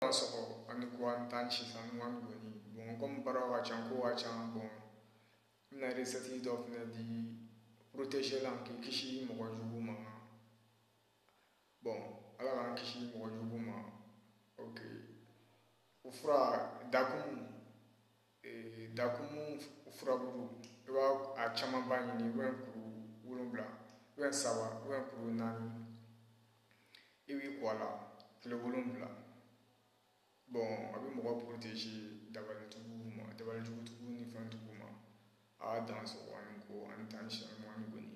Dansɔgɔ ani ko an dansɛ ɲuman kɔni bon kɔmi baara ka ca ko ka ca bɔn n na recette dɔ fana di protéger la k'i kisi mɔgɔ jugu ma bɔn ala k'an kisi mɔgɔ jugu ma ok o fura dakumu Dakumu furabulu i b'a a camanba ɲini i bɛ kuru wolowula i bɛ saba i bɛ kuru naani i b'i ko a la tile wolowula bɔn a bɛ mɔgɔ protéger dabalijugu ma dabalijugujugu ni fɛn jugu ma aa dansɔgɔ ani ko an dansɛ ɲuman kɔni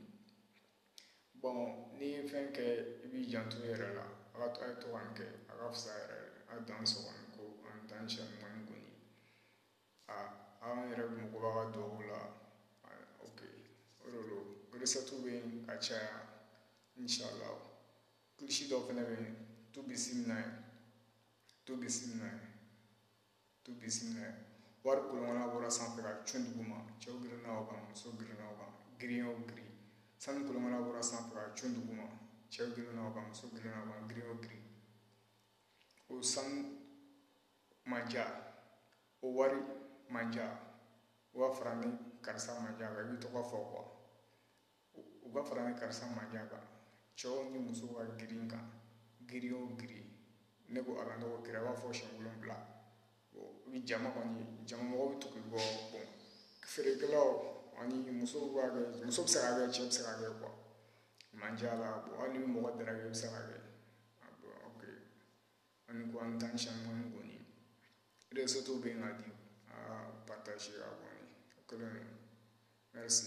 bɔn n'i ye fɛn kɛ i b'i janto i yɛrɛ la a ye to k'a kɛ a ka fisa yɛrɛ a dansɔgɔ ko an dansɛ ɲuman kɔni aa an yɛrɛ mako b'aw ka dugawu la ok o de don recette bɛ yen ka caya inshallah kilisi dɔ fana bɛ yen tu bisimila tu bisimila tu bisimila wari kolonkala bɔra sanfɛ ka cun dugu ma cɛw girinna o kan muso girinna o kan girin o girin sanu kolonkala bɔra sanfɛ ka cun dugu ma cɛw girinna o kan muso girinna o kan girin o girin o sanu mandiya o wari mandiya o b'a fara ne karisa mandiya i b'i tɔgɔ fɔ quoi u ka fara ne karisa mandiya kan cɛw ni muso ka girin kan girin o girin ne ko ala ne ko kira b'a fɔ siyɛn wolonwula u bɛ jama kɔni jama mɔgɔw bɛ tugu bɔ bɔn feerekɛlaw ani musow b'a kɛ muso bɛ se ka kɛ cɛ bɛ se ka kɛ quoi mandiya la bɔn hali ni mɔgɔ dara i bɛ se ka kɛ ok ani ko an dansɛ ɲuman kɔni recette bɛ yen ka di aa partager a kɔni o kɛlen merci